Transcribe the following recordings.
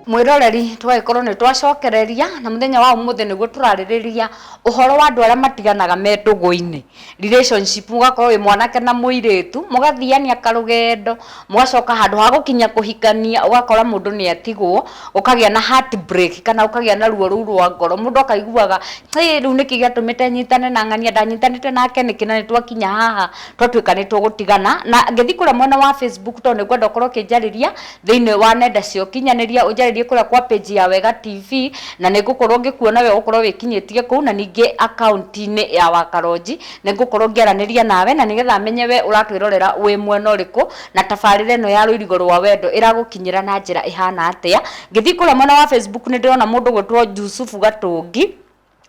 mwiroreri twagĩkorwo nĩ twacokereria na mũthenya wa ũmũthĩ nĩguo tũrarĩrĩria ũhoro wa andũ arĩa matiganaga me ndũgũ-inĩ relationship mũgakorwo wĩ mwanake na mũirĩtu mũgathiania karũgendo mũgacoka handũ ha gũkinya kũhikania ũgakora mũndũ nĩ atigwo ũkagĩa na heart break kana ũkagĩa na ruo rũu rwa ngoro mũndũ akaiguaga "Ĩ, rĩu nĩkĩ gĩatũmĩte nyitane na ng'ania ndanyitanĩte nake nĩkĩ na nĩ twakinya haha twatuĩka nĩ tũgũtigana na ngĩthiĩ kũrĩa mwena wa Facebook tondũ nĩ ngwenda ũkorwo ũkĩnjarĩria thĩinĩ wa nenda cia ũkinyanĩria ũnjarĩrie kũrĩa kwa page ya Wega TV na nĩ ngũkorwo ngĩkuona we ũgũkorwo wĩkinyĩtie kũu na ningĩ akaunti-inĩ ya Wakaronji nĩ ngũkorwo ngĩaranĩria nawe na nĩgetha menye we ũratwĩrorera wĩ mwena ũrĩkũ na tabarĩra ĩno ya rũirigo rwa wendo ĩragũkinyĩra na njĩra ĩhana atĩa. Ngĩthiĩ kũrĩa mwena wa Facebook nĩ ndĩrona mũndũ ũgwĩtwo Jusufu Gatũngi,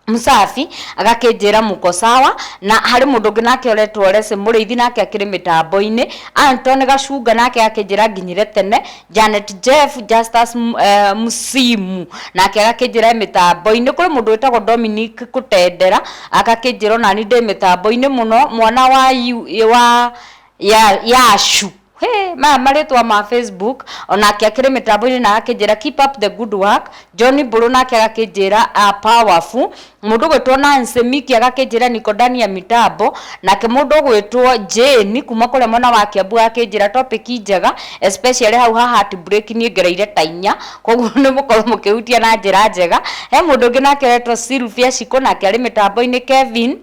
Msafi, agakĩnjĩra mũko sawa, na harĩ mũndũ ũngĩ nake ũretwo Lese Mũrĩithi nake akĩrĩ mĩtambo-inĩ, Anton Gacunga nake agakĩnjĩra nginyire tene, Janet Jeff, Justus M- eh, Msimu nake agakĩnjĩra e mĩtambo-inĩ, kũrĩ mũndũ wĩtagwo Dominic Kũtendera agakĩnjĩra onani ndĩ mĩtambo-inĩ mũno, mwana wa yu- wa ya yacu Hey, maya marĩtwa ma facebook onake akĩrĩ mĩtambo-inĩ na akĩnjĩra keep up the good work john mbũrũ nake agakĩnjĩra a powerful mũndũ gwĩtwo nancy miki agakĩnjĩra nikodania mitambo nake mũndũ gwĩtwo jane kuma kũrĩa mwena wa kiambu agakĩnjĩra topic njega especially hau ha heart break niĩ ngereire ta inya koguo nĩ mũkorwo mũkĩhutia na njĩra njega he mũndũ ũngĩ nake wetwo sylvia cikũ nake arĩ mĩtambo-inĩ kevin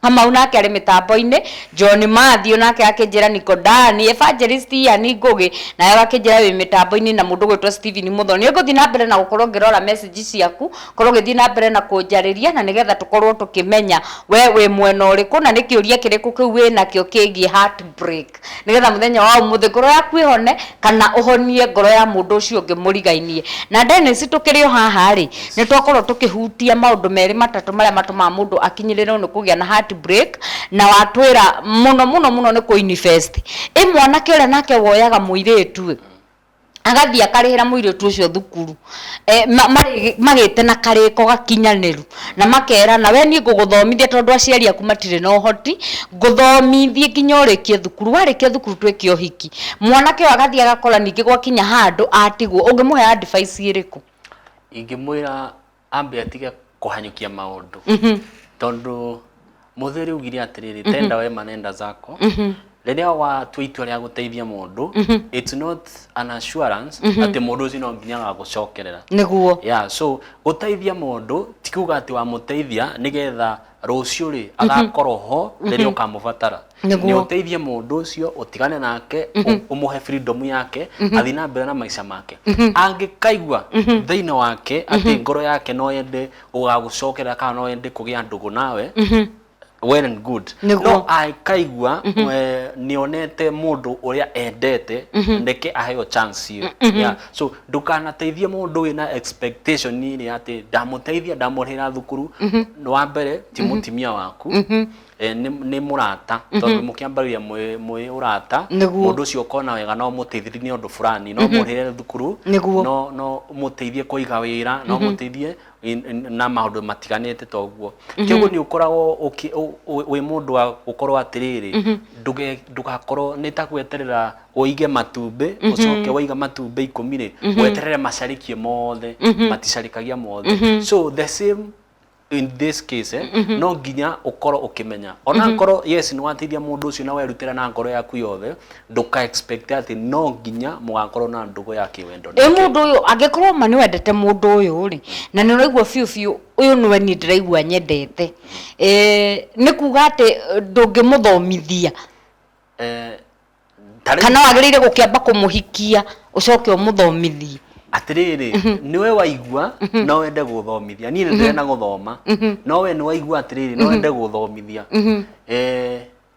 Kamau nake arĩ mĩtambo-inĩ, John Mathi o nake akĩnjĩra niko Ndani, Evangelist Ian Ngũgĩ nawe agakĩnjĩra wĩ mĩtambo-inĩ na mũndũ ũgwĩtwo Stephen Mũthoni. Nĩ ngũthiĩ na mbere na gũkorwo ngĩrora message ciaku, ũkorwo ũgĩthiĩ na mbere na kũnjarĩria na nĩgetha tũkorwo tũkĩmenya we wĩ mwena ũrĩkũ na nĩ kĩũria kĩrĩkũ kĩu wĩnakĩo kĩgiĩ heartbreak. risk nigetha muthenya wa umuthi ngoro yaku ihone kana uhonie ngoro ya mundu ucio ungi murigainie na Dennis tukiri o haha ri ni twakorwo tukihutia maundu meri matatu maria matumaga mundu akinyirirwo ni kugia na heart break na watwira muno muno muno ni ku invest i mwanake uria nake woyaga muiritu agathiĩ akarĩhĩra mũirĩtu ũcio thukuru e, ma, marĩ, magĩte na karĩko gakinyanĩru na makerana we niĩ ngũgũthomithia tondũ aciari aku matirĩ na ũhoti ngũthomithie nginya ũrĩkie thukuru warĩkia thukuru twĩke ũhiki mwanake ũyũ agathiĩ agakora ningĩ gwakinya handũ atigwo ũngĩmũhe advice ĩrĩkũ ingĩmwĩra ambe atige kũhanyũkia maũndũ tondũ mũthuri ugire atĩrĩrĩ tenda wema nenda zako rĩrĩa watua itua rĩa gũteithia mũndũ it's not an assurance atĩ mũndũ ũcio no nginya agagũcokerera nĩguo ya so gũteithia mũndũ ti kuga atĩ wamũteithia nĩgetha rũciũ rĩ agakorwo ho rĩrĩa ũkamũbatara Nĩguo. nĩ ũteithie mũndũ ũcio ũtigane nake ũ- ũmũhe freedom yake athiĩ na mbere na maica make angĩkaigua thĩinĩ wake atĩ ngoro yake no yende gũgagũcokera kana no yende kũgĩa ndũgũ nawe well and good Nĩguo. no akaigua eh, nĩonete mũndũ ũrĩa endete ndeke aheo chance ĩyo yeah. so ndũkanateithie mũndũ wĩ na expectation rĩ atĩ ndamũteithia ndamũrĩhĩra thukuru nĩ wa mbere ti mũtimia waku eh, nĩ nĩ mũrata tondũ mũkĩambagĩria mwĩ mwĩ ũrata Nĩguo. mũndũ ũcio ũkona wega no mũteithĩrie nĩ ũndũ fulani no mũrĩhĩre thukuru Nĩguo. no no mũteithie kũiga wĩra no mũteithie na maundu matiganite ta uguo mhm. kiguo ni ukoragwo wi mundu wa gukorwo atiriri mhm. nduge ndugakorwo ni ta gweterera uige matumbi mhm. ucoke waiga matumbi ikumi ri weterere macarikie mothe maticarikagia mothe so the same in this case eh, mm -hmm. no nginya ukorwo ukimenya ona mm -hmm. ngoro yes ni wateithia mundu ucio na werutira na ngoro yaku yothe ndũka expect atĩ no nginya mũgakorwo na ndũgũ ya kĩwendo ĩ nake. mũndũ ũyũ angĩkorwo ma nĩwendete mũndũ ũyũ rĩ na nĩ ũraigua biũ biũ ũyũ nĩwe niĩ ndĩraigua nyendete Eh, nĩ kuga atĩ eh, ndũngĩmũthomithia Eh, ta rĩu- kana wagĩrĩire gũkĩamba kũmũhikia ũcoke ũmũthomithie atĩrĩrĩ nĩwe waigua no wende gũthomithia niĩ nĩ ndĩrenda gũthoma no we nĩ waigua atĩrĩrĩ no wende gũthomithia Eh,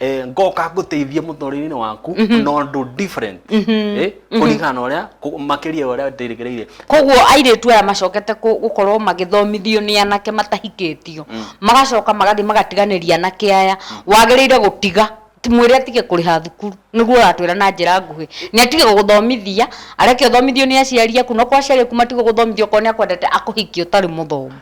eh, ngoka ngũteithie mũtũrĩre-inĩ waku na ũndũ different eh, kũringana na ũrĩa kũ- makĩria ya ũrĩa ndĩrĩgĩrĩire koguo airĩtu aya macokete kũ- gũkorwo magĩthomithio nĩ anake matahikĩtio magacoka magathiĩ magatiganĩria anake aya wagĩrĩire gũtiga ti mwĩre atige kũrĩha thukuru nĩguo ũratwĩra na njĩra nguhĩ nĩ atige gũgũthomithia areke ũthomithio nĩ aciari aku no kwa aciari aku matige gũgũthomithia okorwo nĩ akwendete akũhikie ũtarĩ mũthomu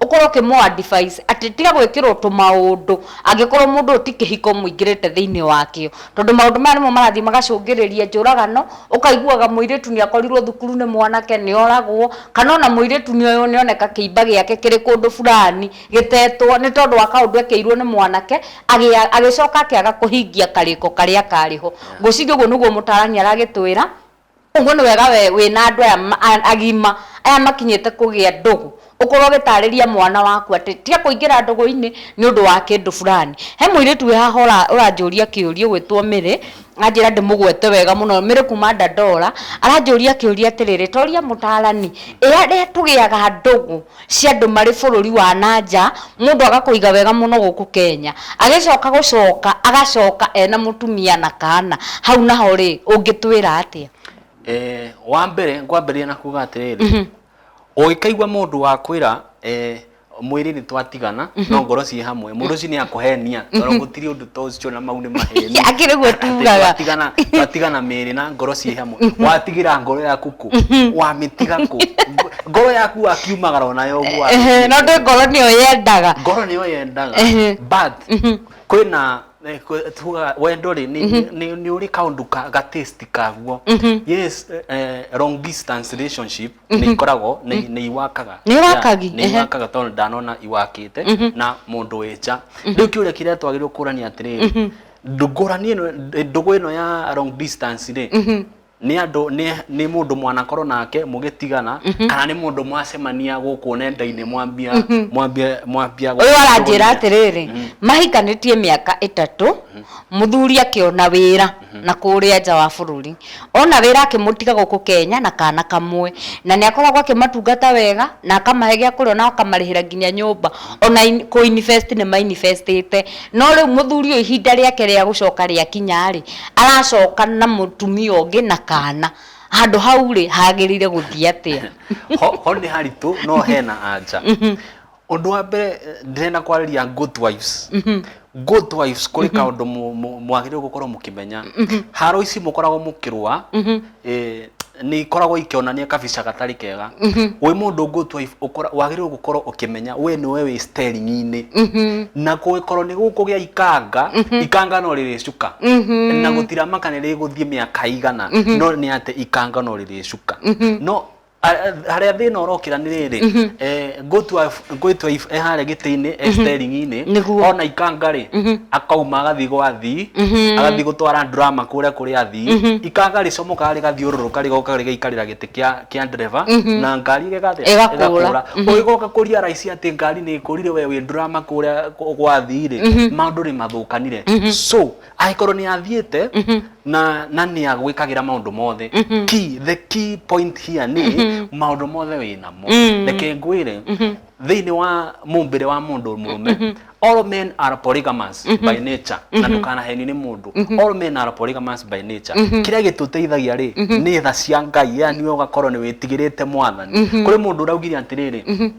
ũkorwo ũkĩmũ advise atĩ tiga gwĩkĩrwo tũmaũndũ angĩkorwo mũndũ ũyũ ti kĩhiko mũingĩrĩte thĩinĩ wakĩo. Tondũ maũndũ maya nĩmo marathiĩ magacũngĩrĩria njũragano, ũkaiguaga mũirĩtu nĩ akorirwo thukuru nĩ mwanake, nĩ oragwo, kana ona mũirĩtu nĩ oywo nĩ oneka kĩimba gĩake kĩrĩ kũndũ fulani gĩtetwo nĩ tondũ wa kaũndũ ekeirwo nĩ mwanake, agĩcoka akĩaga kũhingia karĩko karĩa karĩ ho. Ngwĩciria ũguo nĩguo mũtaarani aragĩtwĩra. Koguo nĩ wega we wĩna andũ aya agima, aya makinyĩte kũgĩa ndũgũ, ũkorwo ũgĩtarĩria mwana waku atĩ tiga kũingĩra ndũgũ-inĩ nĩ ũndũ wa kĩndũ fulani. He mũirĩtu wĩ haha ũranjũria kĩũria ũgwĩtwo Mĩrĩ, anjĩra ndĩmũgwete wega mũno, Mĩrĩ kuuma Dandora, aranjũria kĩũria atĩrĩrĩ, toria mũtaarani, ĩ arĩa tũgĩaga ndũgũ cia andũ marĩ bũrũri wa na nja, mũndũ agakũiga wega mũno gũkũ Kenya, agĩcoka gũcoka agacoka ena mũtumia na kana, hau naho rĩ, ũngĩtwĩra atĩa? Eh, wa mbere ngwambĩrĩria na kuga atĩrĩrĩ ũngĩkaigua mũndũ wakwĩra eh, mwĩrĩ nĩ twatigana no ngoro ciĩ hamwe mũndũ ũcio nĩ akũhenia tondũ gũtirĩ ũndũ those chona mau nĩ maheni Akĩ nĩguo tugaga. Watigana- watigana mĩĩrĩ na ngoro ciĩ hamwe watigĩra ngoro yaku kũ wamĩtiga kũ Ngo- ngoro yaku wakiumagara onayo ũguo wa- Ehe, no ndĩ ngoro nĩyo yendaga ngoro nĩyo yendaga Ehe. but kwĩna eh, kwĩ- tugaga wendo rĩ nĩ- nĩ nĩ ũrĩ kaũndũ ka- ga taste kaguo yes eh, long distance relationship nĩ ikoragwo nĩ nĩ iwakaga Nĩ iwakagi, Yeah, nĩ ehe. iwakaga tondũ ndanona iwakĩte na mũndũ wĩ nja rĩu kĩũria kĩrĩa twagĩrĩirwo kũrania atĩrĩrĩ ndũngũrani ĩno ndũgũ ĩno ya long distance rĩ nĩ andũ nĩ nĩ mũndũ mwanakorwo nake mũgĩtigana kana nĩ mũndũ mwacemania gũkũ nenda-inĩ mwambia mwambia mwambia ũyũ aranjĩra atĩrĩrĩ mahikanĩtie mĩaka ĩtatũ mũthuri akĩona wĩra na kũũrĩa nja wa bũrũri. Ona wĩra akĩmũtiga gũkũ Kenya na kaana kamwe. Na nĩ akoragwo akĩmatungata wega na akamahe gĩa kũrĩa ona akamarĩhĩra nginya nyũmba. Ona kũ invest nĩ ma invest ĩte. No rĩu mũthuri ũyũ ihinda rĩake rĩa gũcoka rĩakinya rĩ, aracoka na mũtumia ũngĩ na kaana. Handũ hau rĩ, hagĩrĩire gũthiĩ atĩa? Ho, ho nĩ haritũ no hena anja. Ũndũ wa mbere ndĩrenda kwarĩria goat wives. Goat wives kũrĩ kaũndũ mũ- mũ- mwagĩrĩirwo gũkorwo mũkĩmenya. Haro ici mũkoragwo mũkĩrũa eh, nĩ ikoragwo ikĩonania kabica gatarĩ kega. Wĩ mũndũ goat wife ũkora- wagĩrĩirwo gũkorwo ũkĩmenya we nĩwe wĩ steering-inĩ. Na kũngĩkorwo nĩ gũkũgĩa ikanga, ikanga no rĩrĩcuka. Na gũtiramaka nĩ rĩgũthiĩ mĩaka ĩigana, no nĩ atĩ ikanga no rĩrĩcuka. No harĩa thĩna ũrokĩra nĩ rĩrĩ mhm. eh, ngũtua ngũtua eh, harĩa gĩtĩ-inĩ eh, mhm. steringi-inĩ ona ikanga rĩ mhm. akauma agathiĩ gwathi agathiĩ gũtwara drama kũrĩa kũrĩa athi ikanga rĩcomokaga rĩgathiũrũrũka rĩgoka rĩgaikarĩra gĩtĩ kĩa ndereba na ngari ĩgakũra ũgĩgoka kũria raici atĩ ngari nĩ ĩkũrire we wĩ drama kũrĩa gwathi rĩ maũndũ nĩ mathũkanire so angĩkorwo nĩ athiĩte na na nĩ agwĩkagĩra maũndũ mothe key the key point here nĩ maũndũ mothe wĩ namo reke ngwĩre thĩinĩ wa mũmbĩre wa mũndũ mũrũme all men are polygamous by nature na ndũkanahenio nĩ mũndũ all men are polygamous by nature kĩrĩa gĩtũteithagia rĩ nĩ tha cia ngai yani we ũgakorwo nĩ wĩtigĩrĩte mwathani kũrĩ mũndũ ũraugire atĩrĩrĩ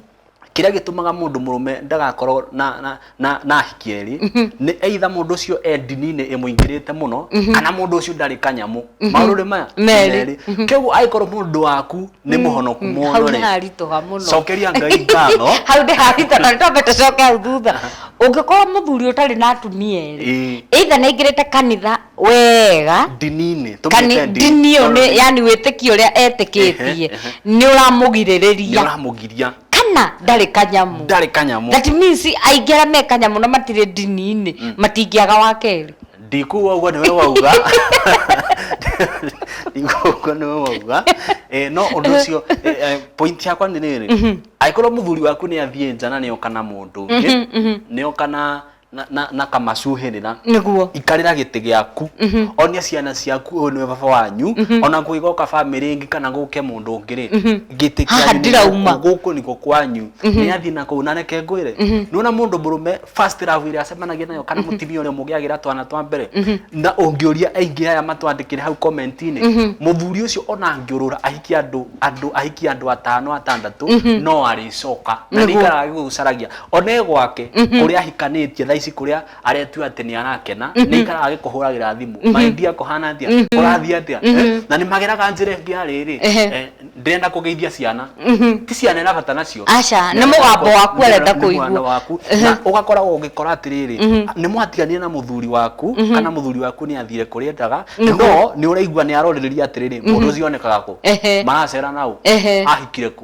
kĩrĩa gĩtũmaga mũndũ mũrũme ndagakorwo na na na na ahiki erĩ nĩ either mũndũ ũcio e ndini-inĩ ĩmũingĩrĩte mũno kana mũndũ ũcio ndarĩ kanyamũ maũndũ maya nĩ Merĩ. merĩ kĩguo angĩkorwo mũndũ waku nĩ mũhonoku hau mũno nĩ rĩ haritũha mũno cokeria ngai ngatho hau nĩ haritũha na nĩtwambe tũcoke hau thutha ũngĩkorwo mũthuri ũtarĩ na atumia erĩ Ĩĩ. either nĩ aingĩrĩte kanitha wega ndini-inĩ kana tũmĩte ndini ndini ĩyo nĩ- yani wĩtĩkio ũrĩa Ehe, etĩkĩtie ehe. nĩ ũramũgirĩrĩria nĩũramũgiria kana ndarĩ kanyamu ndarĩ kanyamu that means aingĩ arĩa me kanyamu na matirĩ ndini-inĩ matingĩaga wa kerĩ ndikuga ũguo nĩwe wauga ndikuga ũguo nĩwe wauga Eh, no ũndũ ũcio eh, eh, point yakwa nĩ rĩrĩ angĩkorwo mũthuri waku nĩ athiĩ nja na nĩoka na mũndũ ũngĩ nĩoka na na, na, na kamacuhĩrĩra Nĩguo. ikarĩra gĩtĩ gĩaku onia ciana ciaku ũyũ nĩwe baba wanyu ona kũigoka bamĩrĩ ĩngĩ kana gũke mũndũ ũngĩ rĩ gĩtĩ Haha kĩanyu nĩ ndirauma. gũkũ, gũkũ nĩkuo kwanyu nĩ athiĩ na kũu na reke ngwĩre nĩwona mũndũ mũrũme first love ĩrĩa acemanagia nayo kana mũtumia ũrĩa mũgĩagĩra twana twa mbere na ũngĩũria aingĩ aya matwandĩkĩre hau comment-inĩ mũthuri ũcio ona angĩũrũra ahikie andũ andũ ahikie andũ atano atandatũ no arĩcoka na Nĩguo. nĩikaraga gĩgũcaragia one gwake kũrĩa ahikanĩtie thaa ici kũrĩa aretua atĩ nĩ arakena nĩ ikaraga agĩkũhũragĩra thimũ maindia kũhana atĩa kũrathiĩ atĩa Eh, na nĩ mageraga njĩra ĩngĩ ya rĩrĩ Ehe. eh, ndĩrenda kũgeithia ciana ti ciana ĩna bata nacio Aca, nĩ Nĩ mũgambo arenda- waku nĩ arenda nĩ kũigua. mwana waku Ehe. na ũgakoragwo ũgĩkora atĩrĩrĩ nĩ mwatiganire na mũthuri waku kana mũthuri waku nĩ athire kũrĩa endaga Nĩguo. no nĩ ũraigua nĩ arorĩrĩria atĩrĩrĩ mũndũ ũcio onekaga kũ Ehe. maracera naũ Ehe. ahikire kũ